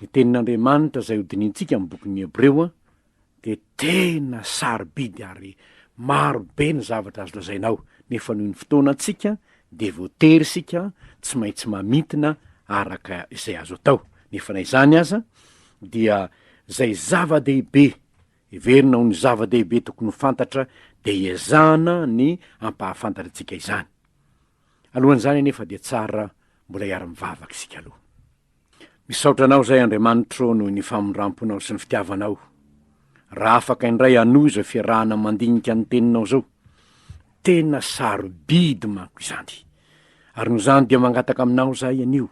Ny Tenin'Andriamanitra izay hodinihintsika amin'ny bokin'ny Hebreo dia tena sarobidy ary maro be ny zavatra azo lazaina ao, nefa noho ny fotoana antsika dia voatery isika tsy maintsy mamintina araka izay azo atao, nefa na izany aza dia izay zava-dehibe heverina ho ny zava-dehibe tokony ho fantatra dia iezahana ny hampahafantatra antsika izany. Alohan'izany anefa dia tsara mbola hiara-mivavaka isika aloha. Misaotra anao izay Andriamanitro noho ny famindramponao sy ny fitiavanao. Raha afaka indray hanohy izao fiarahana mandinika ny teninao izao. Tena sarobidy manko izany. Ary noho izany dia mangataka aminao izahay anio,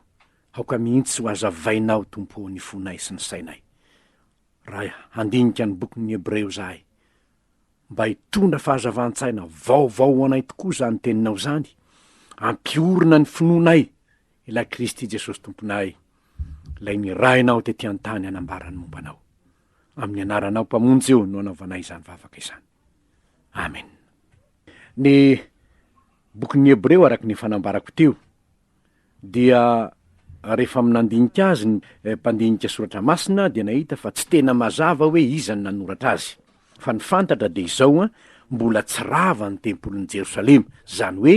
aoka mihitsy ho hazavainao Tompo ô ny fonay sy ny sainay. raha handinika ny bokin'ny Hebreo izahay, mba hitondra fahazavan-tsaina vaovao ho anay tokoa izany teninao izany, hampiorina ny finoanay ilay Kristy Jesosy Tomponay, ilay nirahinao tety an-tany hanambara ny momba anao. Amin'ny anaranao Mpamonjy io no anaovanay izany vavaka izany. Amen. Ny bokin'ny Hebreo araka ny fanambarako teo, dia rehefa nandinika azy ny mpandinika soratra masina dia nahita fa tsy tena mazava hoe iza no nanoratra azy. Fa ny fantatra dia izao an, mbola tsy rava ny tempolin'i Jerosalema, izany hoe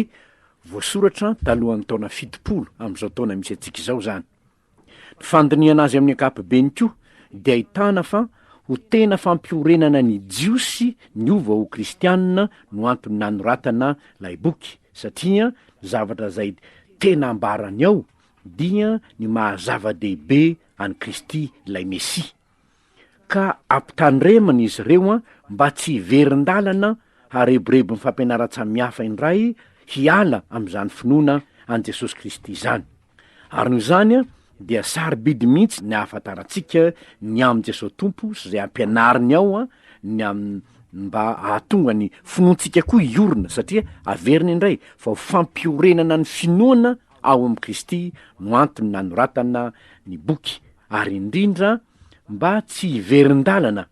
voasoratra talohan'ny taona fitopolo amin'izao taona misy antsika izao izany. Ny fandinihana azy amin'ny ankapobeny koa dia ahitana fa ho tena fampiorenana ny Jiosy ny hova ho Kristianina no antony nanoratana ilay boky, satria ny zavatra izay tena ambarany ao dia ny maha-zava-dehibe an'i Kristy ilay Mesia. ka ampitandremana izy ireo mba tsy hiverin-dalana harebirebin'ny fampianaran-tsamihafa indray hiala amin'izany finoana an'i Jesosy Kristy izany. Arina izany dia sarobidy mihitsy ny ahafantarantsika ny amin'i Jesosy Tompo sy izay ampianariny ao ny amin'ny mba hahatonga ny finoantsika koa hiorina satria averina indray fa ho fampiorenana ny finoana ao amin'i Kristy no antony nanoratana ny boky ary indrindra mba tsy hiverin-dalana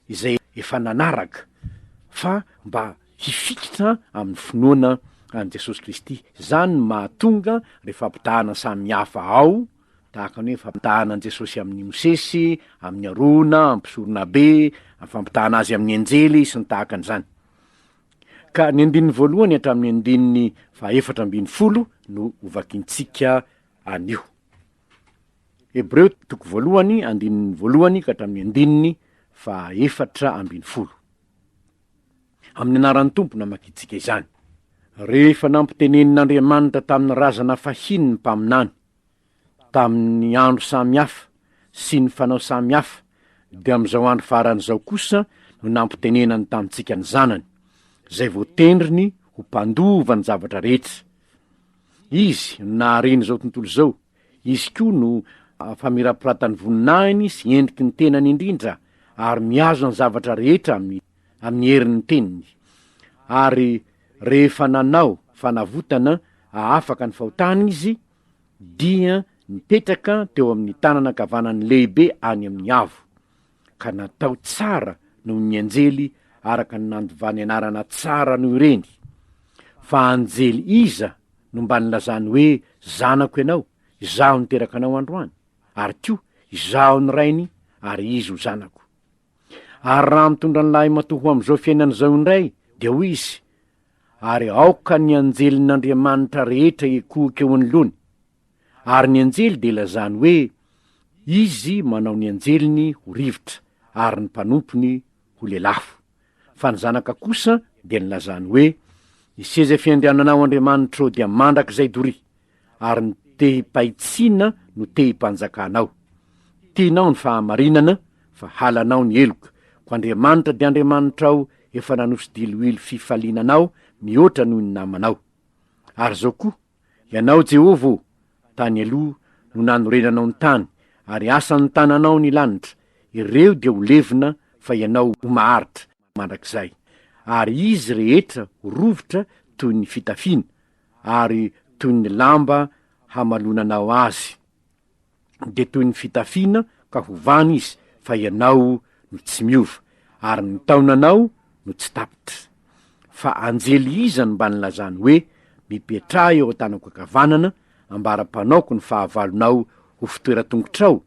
izay efa nanaraka fa mba hifikitra amin'ny finoana an'i Jesosy Kristy. Izany no mahatonga ireo fampitahana samy hafa ao, tahaka ny hoe fampitahana an'i Jesosy amin'i Mosesy, amin'i Arona, amin'ny mpisoronabe, amin'ny fampitahana azy amin'ny anjely, sy ny tahaka an'izany. Ka ny andininy voalohany hatramin'ny andininy fahaefatra ambin'ny folo no hovakintsika anio. Hebreo toko voalohany andininy voalohany ka hatramin'ny andininy faha efatra ambin'ny folo. Amin'ny anaran'ny Tompo no namakiantsika izany. Rehefa nampitenenin'Andriamanitra tamin'ny razana fahiny ny mpaminany, tamin'ny andro samy hafa sy ny fanao samy hafa, dia amin'izao andro farany izao kosa no nampitenenany tamintsika ny Zanany, izay voatendriny ho mpandova ny zavatra rehetra. Izy no nahariany izao tontolo izao, Izy koa no famirapiratan'ny voninahiny sy endriky ny tenany indrindra, ary mihazona ny zavatra rehetra amin'ny, amin'ny herin'ny teniny. Ary rehefa nanao fanavotana hahafaka ny fahotany Izy, dia nipetraka teo amin'ny tanana ankavanan'ny Lehibe any amin'ny Avo. ka natao tsara noho ny anjely araka ny nandovany anarana tsara noho ireny. Fa anjely iza no mba nilazany hoe zanako ianao, izaho niteraka anao androany, ary koa izaho ny rainy ary izy ho zanako? Ary raha mitondra ny lahimatoa ho amin'izao fiainana izao indray, dia hoy izy, Ary aoka ny anjelin'Andriamanitra rehetra hikohoka eo anoloany, Ary ny anjely dia lazany hoe, Izy manao ny anjeliny ho rivotra, ary ny mpanompony ho lelafo. Fa ny zanaka kosa dia ny lazany hoe, Ny seza fiandriananao Andriamanitro dia mandrakizay dory, ary ny tehim-pahitsiana no tehim-panjakanao. Tianao ny fahamarinana, fa halanao ny heloka, ko Andriamanitra dia Andriamanitrao efa nanosodiloilo fifaliana anao mihoatra noho ny namanao. Ary zao koa, Ianao Jehovah ô, tany aloha no nanorenanao ny tany, ary asan'ny tananao ny lanitra, ireo dia ho levona fa ianao ho maharitra mandrakizay, ary izy rehetra ho rovitra toy ny fitafiana, ary toy ny lamba hamalonanao azy. dia toy ny fitafiana ka hovana izy fa ianao no tsy miova ary ny taonanao no tsy tapitra. Fa anjely iza no mba nilazany hoe, Mipetraha eo an-tanako ankavanana, ambaram-panaoko ny fahavalonao ho fitoeran-tongotrao?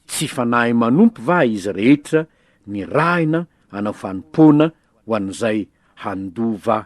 Tsy fanahy manompo va izy rehetra nirahina hanao fanompoana ho an'izay handova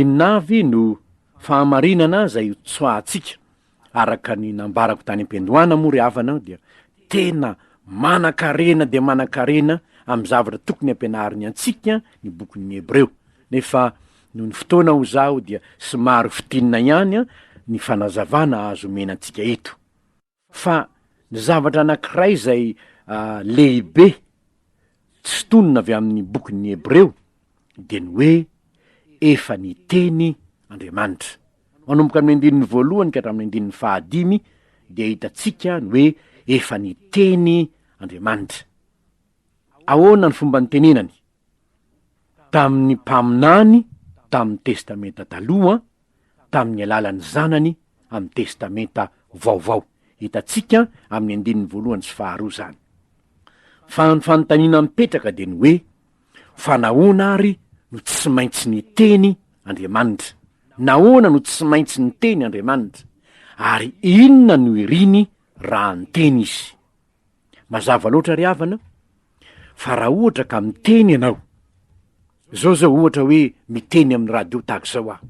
Inona avy no fahamarinana izay ho tsoahantsika? Araka ny nambarako tany am-piandohana moa ry havana dia tena manankarena dia manankarena amin'ny zavatra tokony hampianariny antsika ny bokin'ny Hebreo, nefa noho ny fotoana hoy izaho dia somary fintinina ihany ny fanazavana azo omena antsika eto. Fa ny zavatra anankiray izay lehibe tsy tonona avy amin'ny bokin'ny Hebreo dia ny hoe efa niteny Andriamanitra. Manomboka amin'ny andininy voalohany ka hatramin'ny andininy fahadimy dia hitantsika ny hoe efa niteny Andriamanitra. Ahoana ny fomba nitenenany? tamin'ny Mpaminany tamin'ny Testamenta Taloha tamin'ny alalan'ny Zanany amin'ny Testamenta Vaovao. Hitantsika amin'ny andininy voalohany sy faharoa izany. Fa ny fanontaniana mipetraka dia ny hoe, Fa nahoana àry no tsy maintsy niteny Andriamanitra? Nahoana no tsy maintsy niteny Andriamanitra? Ary inona no iriny raha niteny izy? Mazava loatra ry havana fa raha ohatra ka miteny ianao, zao zao ohatra hoe miteny amin'ny radio tahaka izao aho,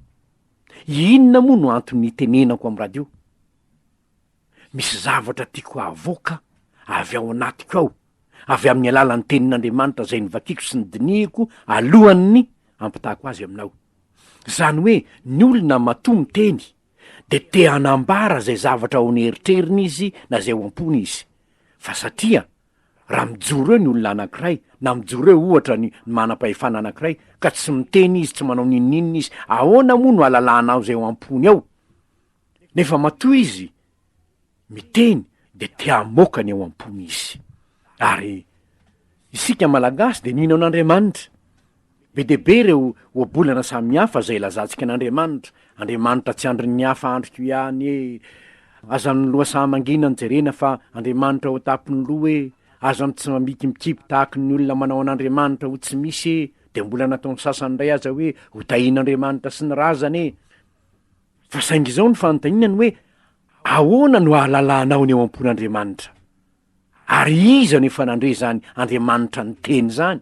inona moa no anton'ny itenenako amin'ny radio? Misy zavatra tiako havoaka avy ao anatiko ao, avy amin'ny alalan'ny tenin'Andriamanitra izay novakiako sy nodinihiko alohan'ny hampitahako azy aminao. Izany hoe ny olona matoa miteny, dia te hanambara izay zavatra ao an'eritreriny izy na izay ao am-pony izy. Fa satria, raha mijoro eo ny olona anankiray, na mijoro eo, ohatra, ny manam-pahefana anankiray, ka tsy miteny izy, tsy manao n'inon'inona izy, ahoana moa no alalahanao izay ao am-pony ao? Nefa matoa izy, miteny de te hamoaka ny ao am-pony izy. Ary isika Malagasy de mino an'Andriamanitra. Be dia be ireo ohabolana samihafa izay ilazantsika an'Andriamanitra, Andriamanitra tsy andrin'ny hafa andriko ihany e, azan'ny loha saha mangina no jerena fa Andriamanitra ao an-tampon'ny loha e, azan'ny tsy mamikibikiby tahaky ny olona manao an'Andriamanitra ho tsy misy e, de mbola nataon'ny sasany indray aza hoe ho tahin'Andriamanitra sy ny razana e. Fa saingy izao ny fanontaniana ny hoe Ahoana no ahalalanao ny eo am-pon'Andriamanitra? Ary iza no efa nandre izany Andriamanitra niteny izany?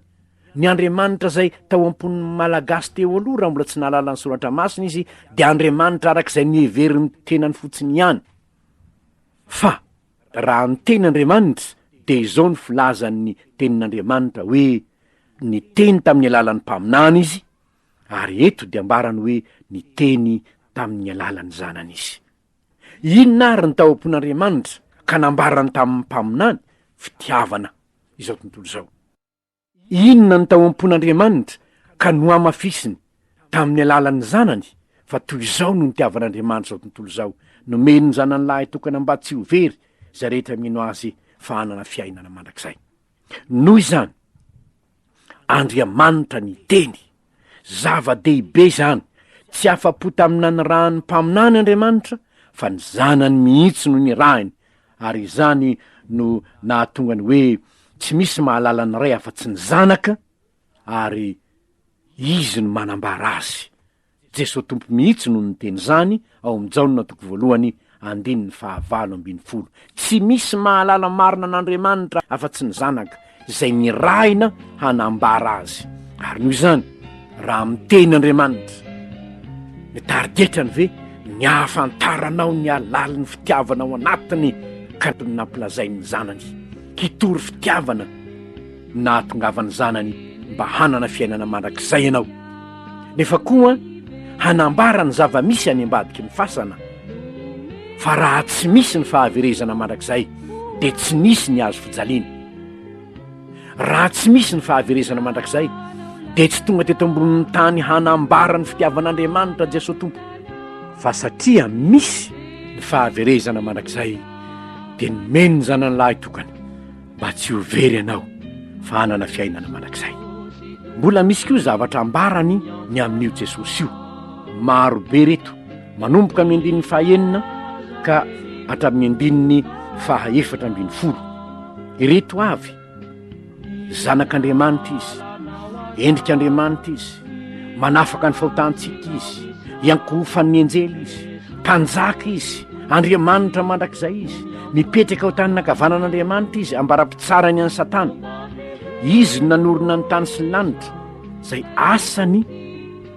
Ny Andriamanitra izay tao am-pon'ny Malagasy teo aloha, raha mbola tsy nahalala ny Soratra Masina izy, dia Andriamanitra araka izay noheverin'ny tenany fotsiny ihany. Fa raha niteny Andriamanitra, dia izao no filazan'ny Tenin'Andriamanitra hoe, Niteny tamin'ny alalan'ny mpaminany izy, Ary eto dia ambarany hoe niteny tamin'ny alalan'ny Zanany Izy. Inona àry ny tao am-pon'Andriamanitra ka nambarany tamin'ny mpaminany? Fitiavana izao tontolo izao. Inona ny tao am-pon'Andriamanitra ka nohamafisiny tamin'ny alalan'ny Zanany? Fa toy izao no nitiavan'Andriamanitra izao tontolo izao, nomeny ny Zanany Lahitokana mba tsy ho very izay rehetra mino Azy fa hanana fiainana mandrakizay. Noho izany, Andriamanitra niteny. Zava-dehibe izany! Tsy afa-po tamin'ny nanirahan'ny mpaminany Andriamanitra, fa ny Zanany mihitsy no nirahiny, ary izany no nahatonga ny hoe tsy misy mahalala ny Ray afa-tsy ny Zanaka, ary Izy no manambara Azy. Jesoa Tompo mihitsy no niteny izany ao amin'ny Jaona toko voalohany andininy fahavalo ambin'ny folo. Tsy misy mahalala marina an'Andriamanitra afa-tsy ny Zanaka, izay nirahina hanambara Azy. Ary noho izany, raha miteny Andriamanitra, ny tarigetrany ve ny hahafantaranao ny halalin'ny fitiavana ao anatiny ka nampilazain'ny Zanany hitory fitiavana nahatongavany zanany mba hanana fiainana mandrakizay ianao, nefa koa hanambara ny zava-misy any ambadiky ny fasana, fa raha tsy misy ny fahaverezana mandrakizay dia tsy nisy ny hazo fijaliana. Raha tsy misy ny fahaverezana mandrakizay dia tsy tonga teto ambonin'ny tany hanambara ny fitiavan'Andriamanitra Jesoa Tompo, fa satria misy ny fahaverezana mandrakizay dia nomeny ny zanany lahy tokana, mba tsy ho very ianao fa hanana fiainana mandrakizay. Mbola misy koa zavatra ambarany ny amin'io Jesosy io. Maro be reto, manomboka amin'ny andininy fahaenina ka hatramin'ny andininy faha efatra ambin'ny folo. Ireto avy, zanak'Andriamanitra izy, endrik'Andriamanitra izy, manafaka ny fahotantsika izy, iankohofan'ny anjely izy, mpanjaka izy, Andriamanitra mandrakizay izy mipetraka ao tanina ankavanan'andriamanitra izy ambarapitsarany any satana izy nanorina ny tany sy ny lanitra zay asany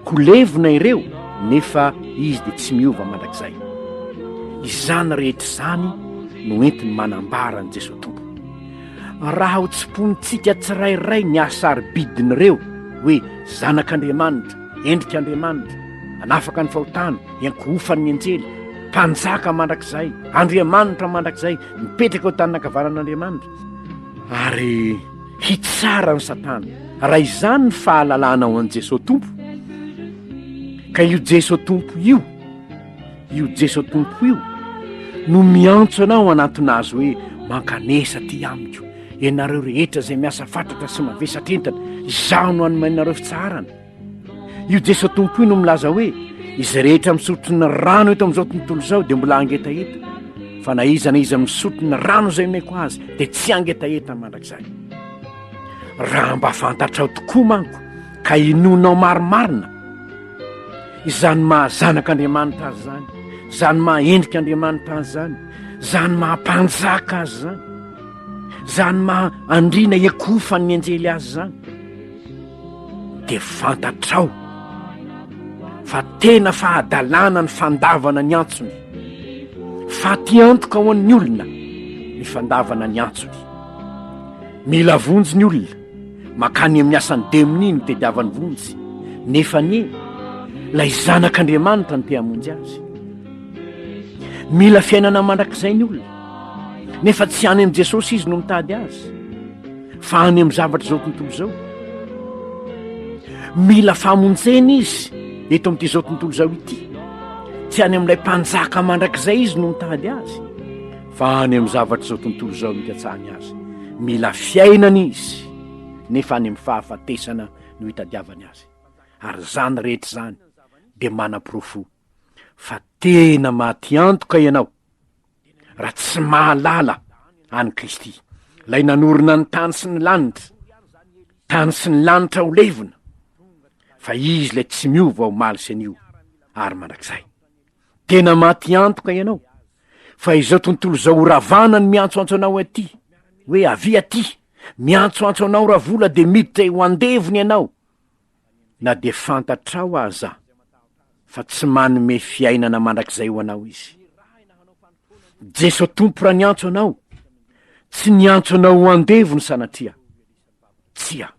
kolevina ireo nefa izy dia tsy miova mandrakizay izany rehetra izany no entiny manambara ny jesoa tompo raha ho tsimponintsika tsirairay ny asarybidiny ireo hoe zanak'andriamanitra endrik'andriamanitra anafaka ny fahotana Iankohofan'ny anjely, Mpanjaka mandrakizay, Andriamanitra mandrakizay, mipetraka eo tanana ankavanan'Andriamanitra, ary hitsara ny Satana. Raha izany ny fahalalana ao an'i Jesoa Tompo, ka io Jesoa Tompo io, io Jesoa Tompo io, no miantso anao anatona azy hoe mankanesa aty amiko, ianareo rehetra izay miasa fatratra sy mavesatra entana, izaho no hanome anareo fitsaharana. Io Jeso Tompo io no milaza hoe izay rehetra misotro ny rano eto amin'izao tontolo izao dia mbola hangetaheta fa na iza na iza misotro ny rano izay omeko azy dia tsy hangetaheta mandrakizay. Raha mba fantatrao tokoa manko ka inonao marimarina izany mahazanak'Andriamanitra azy izany, izany mahendrik'Andriamanitra azy izany, izany mahampanjaka azy izany, izany maha andriana ekofan'ny anjely azy izany. dia fantatrao fa tena fahadalana ny fandavana ny antsony fatiantoka ho an'ny olona ny fandavana ny antsony mila vonjy ny olona makany amin'ny asan'ny demoni ny tediavan'ny vonjy nefa ny lay zanak'andriamanitra ny tehamonjy azy mila fiainana mandrakizay ny olona nefa tsy any amin'i jesosy izy no mitady azy fa any amin'ny zavatra izao tontolo izao mila famonjena izy eto amin'ity izao tontolo izao ity tsy any amin'ilay mpanjaka mandrakizay izy no mitady azy fa any amin'ny zavatra izao tontolo izao mikatsahany azy mila fiainana izy nefa any amin'ny fahafatesana no hitadiavany azy ary izany rehetra izany dia manaporofo fa tena matiantoka ianao raha tsy mahalala an'i Kristy, lay nanorina ny tany sy ny lanitra, tany sy ny lanitra ho levona, fa izy lay tsy miova ho maly sy anio ary mandrakizay. Tena maty antoka ianao, fa izao tontolo izao ho ravana ny miantsoantso anao aty, hoe avia aty, miantsoantso anao ravola de miditra eo andevony ianao, na dia fantatrao aza fa tsy manome fiainana mandrakizay ho anao Izy. Jeso Tompo raha niantso anao, tsy niantso anao ho andevony sanatria. Tsia,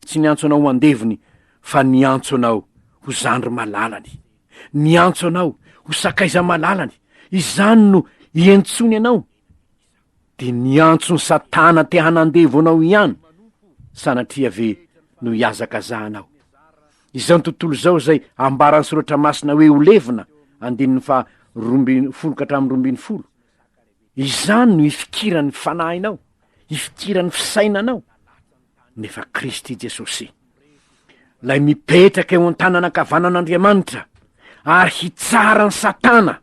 tsy niantso anao ho andevony fa niantso anao ho zandry malalany. Niantso anao ho sakaiza malalany. Izany no iantsony anao. Dia niantso ny satana te hanandevo anao ihany, sanatria ve no hihazakazahanao. Izao tontolo izao izay ambaran'ny soratra masina hoe ho levona, andininy faha roa ambin'ny folo ka hatramin'ny roa ambin'ny folo, izany no hifikiran'ny fanahinao, hifikiran'ny fisainanao, nefa Kristy Jesosy, lay mipetraka eo an-tanan' ankavanan'Andriamanitra, ary hitsara ny satana.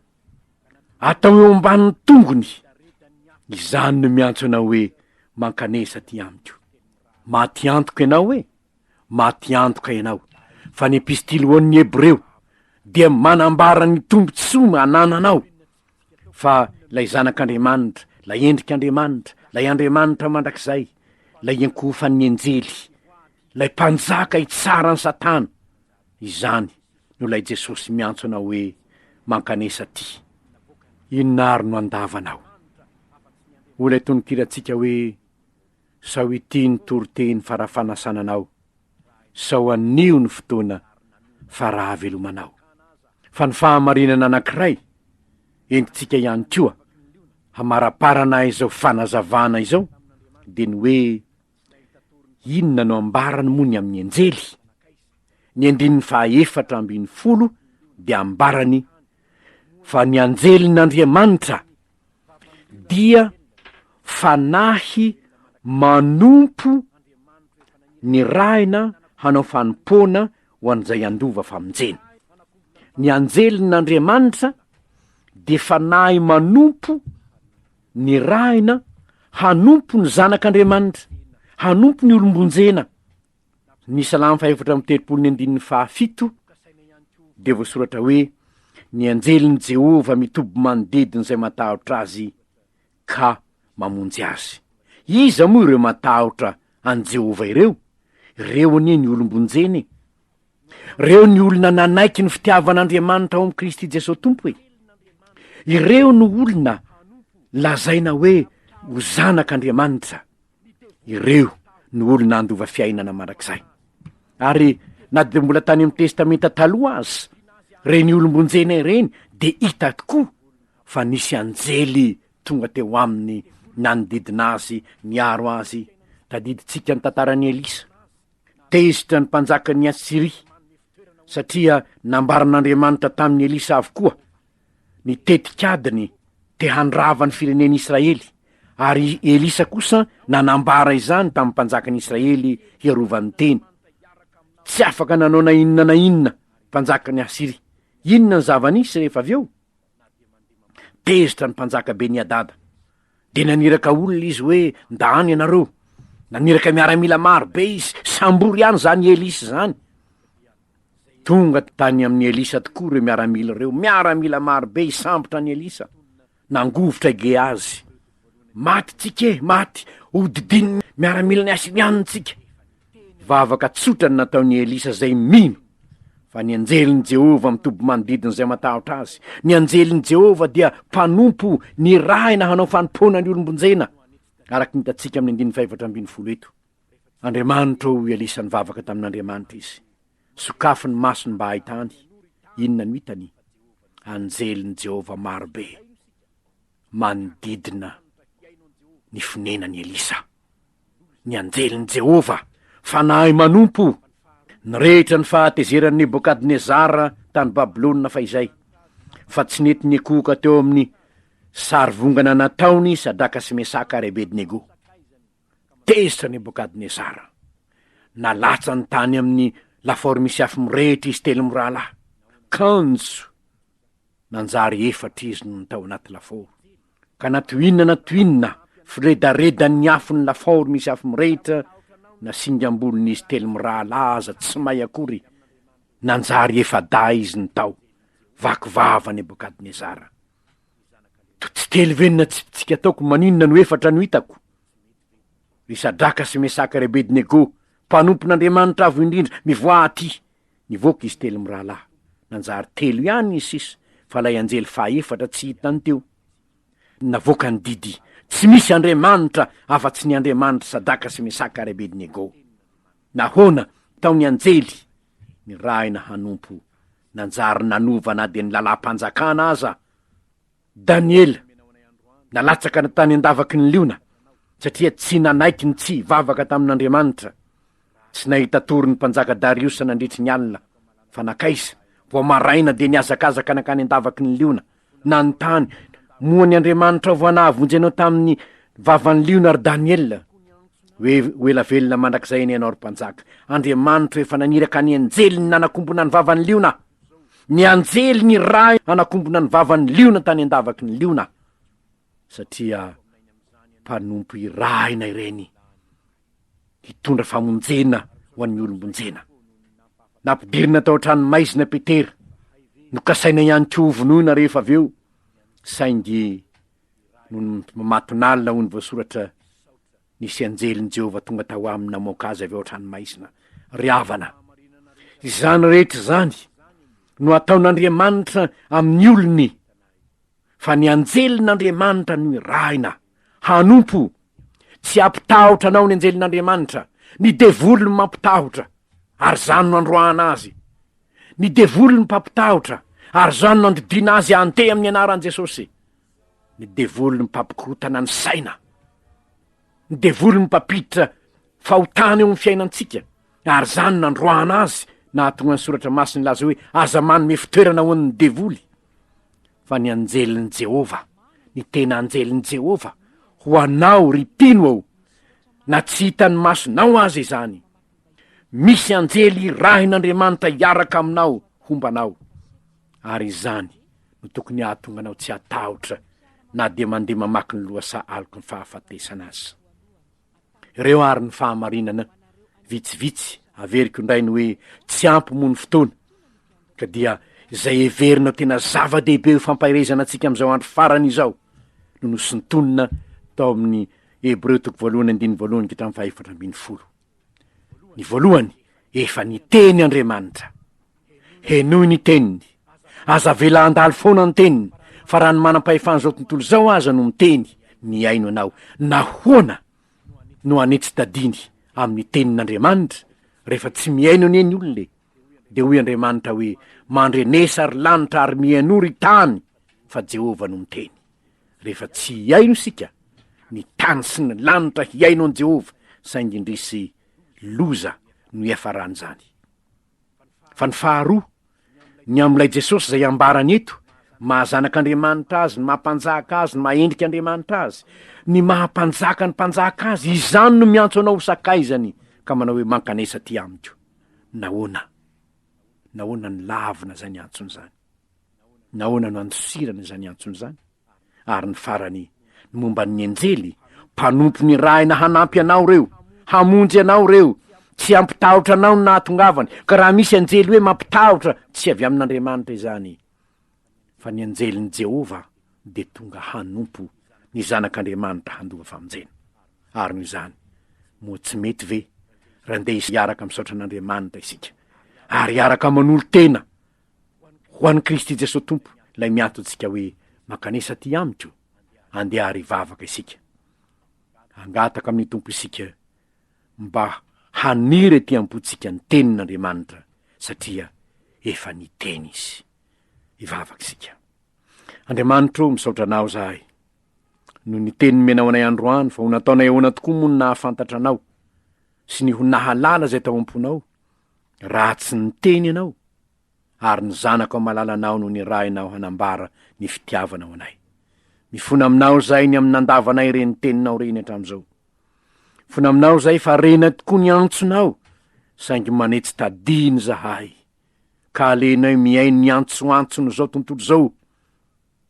atao eo ambanin'ny tongony, izany no miantso anao hoe mankanesa aty amiko, maty antoka ianao e, maty antoka ianao, fa ny epistily ho an'ny Hebreo dia manambara ny tombontsoa anananao, fa ilay Zanak'Andriamanitra, ilay endrik'Andriamanitra, ilay Andriamanitra mandrakizay, ilay iankohofan'ny anjely, ilay mpanjaka hitsara an'i Satana, Izany no ilay Jesosy miantso anao hoe mankanesa aty. Inona ary no andavanao? Hoy ilay tononkirantsika hoe, Sao ity ny toriteny fara-fanasana anao, sao anio ny fotoana fara-havelomanao. Fa ny fahamarinana anankiray entintsika ihany koa hamaraparana izao fanazavana izao dia ny hoe, Inona no ambarany moa ny amin'ny anjely? Ny andininy fahaefatra ambin'ny folo dia ambarany fa ny anjelin'Andriamanitra dia fanahy manompo nirahina hanao fanompoana ho an'izay handova famonjena. Ny anjelin'Andriamanitra dia fanahy manompo Nirahina hanompo ny Zanak' Andriamanitra, hanompo ny olom-bonjena. Ny Salamo fahefatra amby telopolo ny andininy fahafito dia voasoratra hoe, Ny anjelin'i Jehovah mitoby manodidina izay matahotra azy ka mamonjy azy. Iza moa ireo matahotra an'i Jehovah ireo? Ireo anie ny olom-bonjena e! Reo ny olona nanaiky ny fitiavan'Andriamanitra ao amin'i Kristy Jesoa Tompo e. Ireo no olona lazaina hoe ho zanak'Andriamanitra. Ireo no olona handova fiainana mandrakizay. Ary na dia mbola tany amin'ny Testamenta Taloha aza, reny olom-bonjena ireny dia hita tokoa fa nisy anjely tonga teo aminy nanodidina azy niaro azy. Tadidintsika ny tantaran'i Elisa. Tezitra ny mpanjakan'i Asyria, satria nambaran'Andriamanitra tamin'i Elisa avokoa ny tetikadiny te handrava ny firenen'i Israely, ary i Elisa kosa nanambara izany tamin'ny mpanjakan'i Israely hiarovany teny. Tsy afaka nanao na inona na inona mpanjakan'i Asyria. Inona ny zava-nisy rehefa avy eo? Tezitra ny mpanjaka Beni-hadada, dia naniraka olona izy hoe, Ndano ianareo! Naniraka miaramila maro be izy, sambory any izany Elisa izany! Tonga tany amin'i Elisa tokoa ireo miaramila ireo, miaramila maro be hisambotra an'i Elisa! Nangovitra i Gehazy, Maty tsika e, maty, hodidin'ny miaramilan'i Asiriana tsika. Vavaka tsotra ny nataon'i Elisa izay mino fa ny anjelin'i Jehovah mitoby manodidina izay matahotra azy. Ny anjelin'i Jehovah dia mpanompo nirahina hanao fanompoana ny olom-bonjena, araka ny hitantsika amin'ny andininy fahefatra ambin'ny folo eto. Andriamanitra, hoy Elisa nivavaka tamin'Andriamanitra izy. Sokafy ny masony mba hahitany. Inona no hitany? Anjelin'i Jehovah maro be. manodidina ny fonenan'i Elisa. Ny anjelin'i Jehovah, Fanahy manompo, nirehitra ny fahatezeran'i Nebokadnezara tany Babylona fahizay, fa tsy nety nikohoka teo amin'ny sarivongana nataony Sadraka sy Mesaka ary Abednego. Tezitra Nebokadnezara. Nalatsany tany amin'ny lafaoro misy afo mirehitra izy telo mirahalahy. Kanjo! Nanjary efatra izy nony tao anaty lafaoro. Ka na toy inona na toy inona firedaredan'ny afon'ny lafaoro misy afo mirehitra, na singam-bolon'izy telo mirahalahy aza tsy may akory, nanjary efa-dahy izy ny tao. Vaky vava Nebokadnezara. Ka tsy telo ve ny natsipitsika ataoko maninona no efatra no hitako? Ry Sadraka sy Mesaka ry Abednego, mpanompon'Andriamanitra Avo Indrindra, mivoaha aty! Nivoaka izy telo mirahalahy. Nanjary telo ihany izy sisa, fa ilay anjely fahaefatra tsy hitany teo. Navoaka ny didy, Tsy misy Andriamanitra afa-tsy ny Andriamanitr'i Sadraka sy Mesaka ary Abednego. Nahoana? Tao ny anjely, nirahina hanompo Nanjary nanova na dia ny lalam-panjakana aza Daniela, nalatsaka tany an-davaky ny liona, satria tsy nanaiky ny tsy hivavaka tamin'Andriamanitra. Tsy nahita tory ny mpanjaka Dariosa nandritry ny alina, fa nankaiza? Vao maraina dia nihazakazaka nankany an-davaky ny liona, Nanontany, Moa ny Andriamanitrao vao nahavonjy anao tamin'ny vavan'ny liona ry Daniela? Hoe ho ela velona mandrakizay anie ianao ry mpanjaka! Andriamanitro efa naniraka ny anjeliny nanakombona ny vavan'ny liona! Ny anjely nirahy hanakombona ny vavan'ny liona tany an-davaky ny liona! satria mpanompo irahina ireny hitondra famonjena ho an'ny olom-bonjena. Nampidirina tao an-tranomaizina Petera, nokasaina ihany koa hovonoina rehefa avy eo, saingy nony matinalina hoy ny voasoratra, nisy anjelin'i Jehovah tonga tao aminy namoaka azy avy ao an-tranomaizina. Ry havana, izany rehetra izany no ataon'Andriamanitra amin'ny olony. fa ny anjelin'Andriamanitra no irahina, hanompo, tsy hampitahotra anao ny anjelin'Andriamanitra, ny devoly no mampitahotra, ary izany no androahana azy, ny devoly no mpampitahotra, ary izany no andidiana azy handeha amin'ny anaran'i Jesosy, ny devoly no mpampikorotana ny saina, ny devoly no mpampiditra fahotana eo amin'ny fiainantsika, ary izany no nandroahana azy, nahatonga ny soratra masina hilaza hoe aza manome fitoerana ho an'ny devoly. fa ny anjelin'i Jehovah, ny tena anjelin'i Jehovah, ho anao, ry mpino ô, na tsy hitan'ny masonao aza izany. Misy anjely irahin'Andriamanitra hiaraka aminao homba anao, ary izany no tokony hahatonga anao tsy hatahotra na dia mandeha mamaky ny lohasaha aloky ny fahafatesana aza. Ireo ary ny fahamarinana vitsivitsy averiko indray ny hoe tsy ampy moa ny fotoana ka dia izay heverina tena zava-dehibe eo fampaherezana antsika amin'izao andro farany izao no nosintonina tao amin'ny Hebreo toko voalohany andininy voalohany ka hatramin'ny fahefatra ambin'ny folo. Ny voalohany, efa niteny Andriamanitra. Henoy ny teniny. Aza avela handalo foana ny teniny, fa raha ny manam-pahefan'izao tontolo izao aza no miteny, mihaino anao, nahoana no hanetsi-tadiny amin'ny tenin'Andriamanitra, rehefa tsy mihaino anie ny olona e? Dia hoy Andriamanitra hoe, Mandrenesa ry lanitra ary mihainoa ry tany, fa Jehovah no miteny. Rehefa tsy hihaino isika, ny tany sy ny lanitra hihaino an'i Jehovah, saingy indrisy, loza no iafaran'izany. Fa ny faharoa, ny amin'ilay Jesosy izay ambarany eto, maha zanak'Andriamanitra azy, ny maha mpanjaka azy, ny maha endrika Andriamanitra azy, ny maha mpanjaka ny mpanjaka azy, izany no miantso anao ho sakaizany ka manao hoe mankanesa aty amiko. Nahoana? Nahoana no lavina izany antsony izany? Nahoana no andosirana izany antsony izany? Ary ny farany, ny momba ny anjely, mpanompo nirahina hanampy anao ireo, hamonjy anao ireo, tsy hampitahotra anao ny nahatongavany, ka raha misy anjely hoe mampitahotra, tsy avy amin'Andriamanitra izany, fa ny anjelin'i Jehovah dia tonga hanompo ny Zanak'Andriamanitra handoa famonjena. Ary noho izany, moa tsy mety ve raha ndeha hiaraka misaotra an'Andriamanitra isika, ary hiaraka manolo-tena Ho an'i Kristy Jesoa Tompo, Ilay miantontsika hoe, Mankanesa aty Amiko, andeha ary hivavaka isika. Hangataka amin'ny Tompo isika mba haniry ety am-pontsika ny Tenin'Andriamanitra, satria efa niteny Izy. Hivavaka isika. Andriamanitra ô, misaotra Anao izahay, noho ny Teny nomenao anay androany, fa ho nataonay ahoana tokoa moa ny nahafantatra Anao, sy ny ho nahalala izay tao am-ponao, Raha tsy niteny ianao, ary ny zanako amalala anao no nirahinao hanambara ny fitiavanao anay. Mifona aminao izay ny amin'ny nandavanay ireny teninao ireny hatramin'izao. Mifona aminao izay fa rena tokoa ny antsonao, saingy manetsy tadiny izahay, ka alenay mihaino ny antsoantson'izao tontolo izao.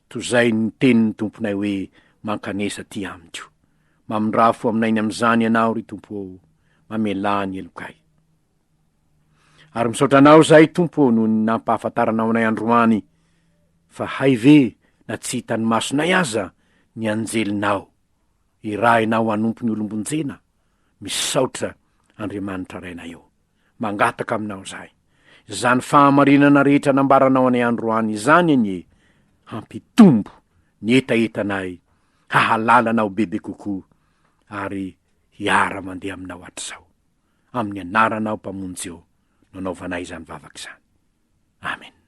Tozain'ny tenin'ny Tomponay hoe, Mankanesa aty amiko. Mamindrafo ho aminay ny amin'izany Ianao, ry Tompo ô, mamelà ny helokay. Ary misaotra Anao izahay, Tompo ô, noho ny nampahafantaranao anay androany fa hay ve na tsy hitan'ny masonay aza ny anjelinao irahina ao hanompo ny olombonjena. Misaotra, Andriamanitra Rainay ô. Mangataka aminao izahay, izany fahamarinana rehetra nambaranao anay androany izany anie, hampitombo ny hetahetanay hahalala anao bebe kokoa ary hiara-mandeha aminao hatrizao. Amin'ny anaranao Mpamonjy ô no anaovanay izany vavaka izany. Amena.